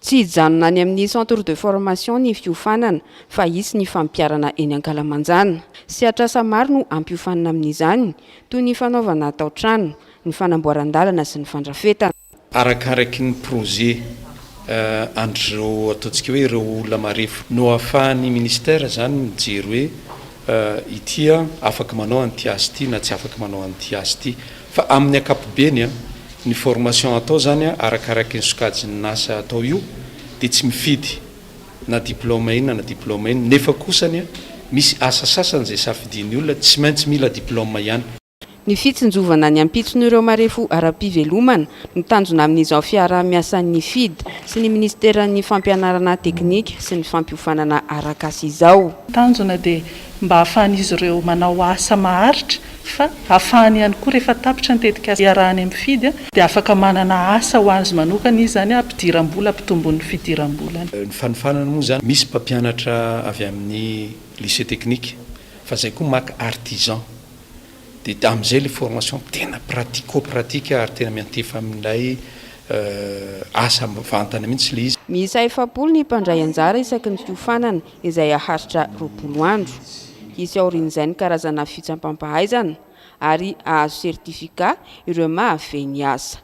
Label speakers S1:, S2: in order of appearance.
S1: Tsy hijanona any amin'ny centre de formation ny fiofanana fa hisy ny fampiharana eny ankalamanjana. Sehatr'asa maro no hampiofanina amin'izany, toy ny fanaovana tao-trano, ny fanamboaran-dalana sy ny fandrafetana. Arakaraky
S2: ny projet an'ireo ataontsika hoe ireo olona marefo no ahafahan'ny ministère izany mijery hoe ity aho afaka manao an'ity asa ity na tsy afaka manao an'ity asa ity fa amin'ny ankapobeny ny formation atao izany arakaraky ny sokajin'asa atao io dia tsy mifidy na diplôme inona na diplôme inona nefa kosa misy asa sasany izay safidian'ny olona tsy maintsy mila diplôme ihany. Ny fitsinjovana
S1: ny ampitson'ireo marefo ara-pivelomana no tanjona amin'izao fiaraha-miasan'ny Fid sy ny Minisiteran'ny Fampianarana Teknika sy ny Fampiofanana Arakasa izao. Ny tanjona dia
S3: mba hahafahan'izy ireo manao asa maharitra fa hahafahany ihany koa rehefa tapitra ny tetikasa iarahany amin'ny Fid dia afaka manana asa ho azy manokana izy izany hampidiram-bola hampitomboin'ny fidiram-bolany. Ny fanofanana
S2: moa izany misy mpampianatra avy amin'ny Lycée Technique fa izay koa maka Artisan. dia amin'izay ilay formation tena pratico pratique ary tena miantefa amin'ilay asa mivantana mihitsy ilay izy. Miisa efapolo ny
S1: mpandray anjara isaky ny fiofanana izay haharitra roapolo andro. Hisy aorian'izay ny karazana fitsampam-pahaizana ary hahazo certificat ireo mahafehy ny asa.